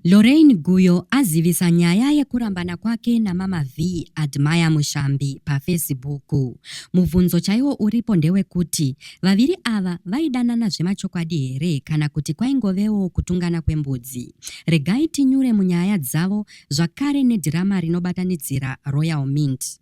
Lorraine Guyo azivisa nyaya yekurambana kwake namama Vee Admire Mushambi pafesibuku. Mubvunzo chaiwo uripo ndewekuti vaviri ava vaidanana zvemachokwadi here kana kuti kwaingovewo kutungana kwembudzi. Regai tinyure munyaya dzavo zvakare nedhirama rinobatanidzira Royal Mint.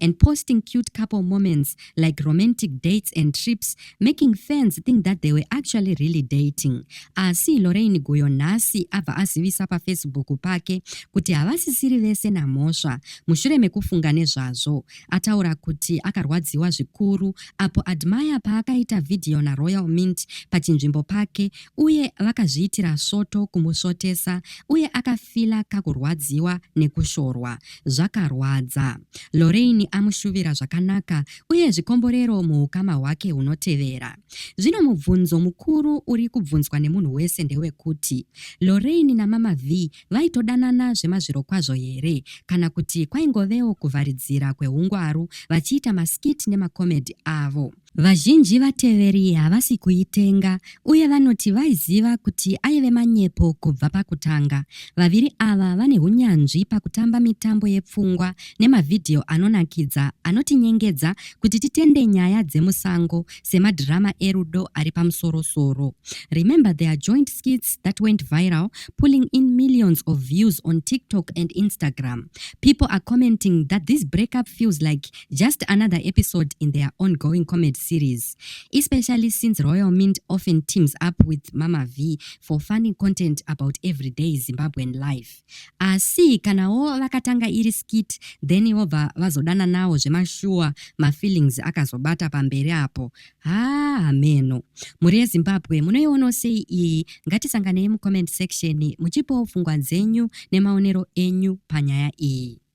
and posting cute couple moments like romantic dates and trips making fans think that they were actually really dating asi lorain guyo nhasi abva azivisa pafacebook pake kuti havasisiri vese namhosva mushure mekufunga nezvazvo ataura kuti akarwadziwa zvikuru apo admire paakaita vhidhiyo naroyal mint pachinzvimbo pake uye vakazviitira svoto kumusvotesa uye akafila kakurwadziwa nekushorwa zvakarwadza. Lorraine amushuvira zvakanaka uye zvikomborero muukama hwake hunotevera. Zvino mubvunzo mukuru uri kubvunzwa nemunhu wese ndewekuti, Lorraine naMama Vee vaitodanana zvemazvirokwazvo here kana kuti kwaingovewo kuvharidzira kwehungwaru vachiita maskit nemakomedhi avo? Vazhinji vateveri havasi kuitenga uye vanoti vaiziva kuti aive manyepo kubva pakutanga. Vaviri ava vane hunyanzvi pakutamba mitambo yepfungwa nemavhidhiyo anonakidza anotinyengedza kuti titende nyaya dzemusango semadhirama erudo ari pamusoro-soro. Remember their joint skits that went viral pulling in millions of views on TikTok and Instagram. People are commenting that this breakup feels like Just another episode in their ongoing comedy series, especially since Royal Mint often teams up with Mama V for funny content about everyday Zimbabwean life. Asi kanawo vakatanga iri skit then vobva vazodana nawo zvemashuwa mafeelings akazobata pamberi apo. Haa hameno. Mhuri yeZimbabwe munoionawo sei iyi? Ngatisanganei mucomment section muchipawo pfungwa dzenyu nemaonero enyu panyaya iyi.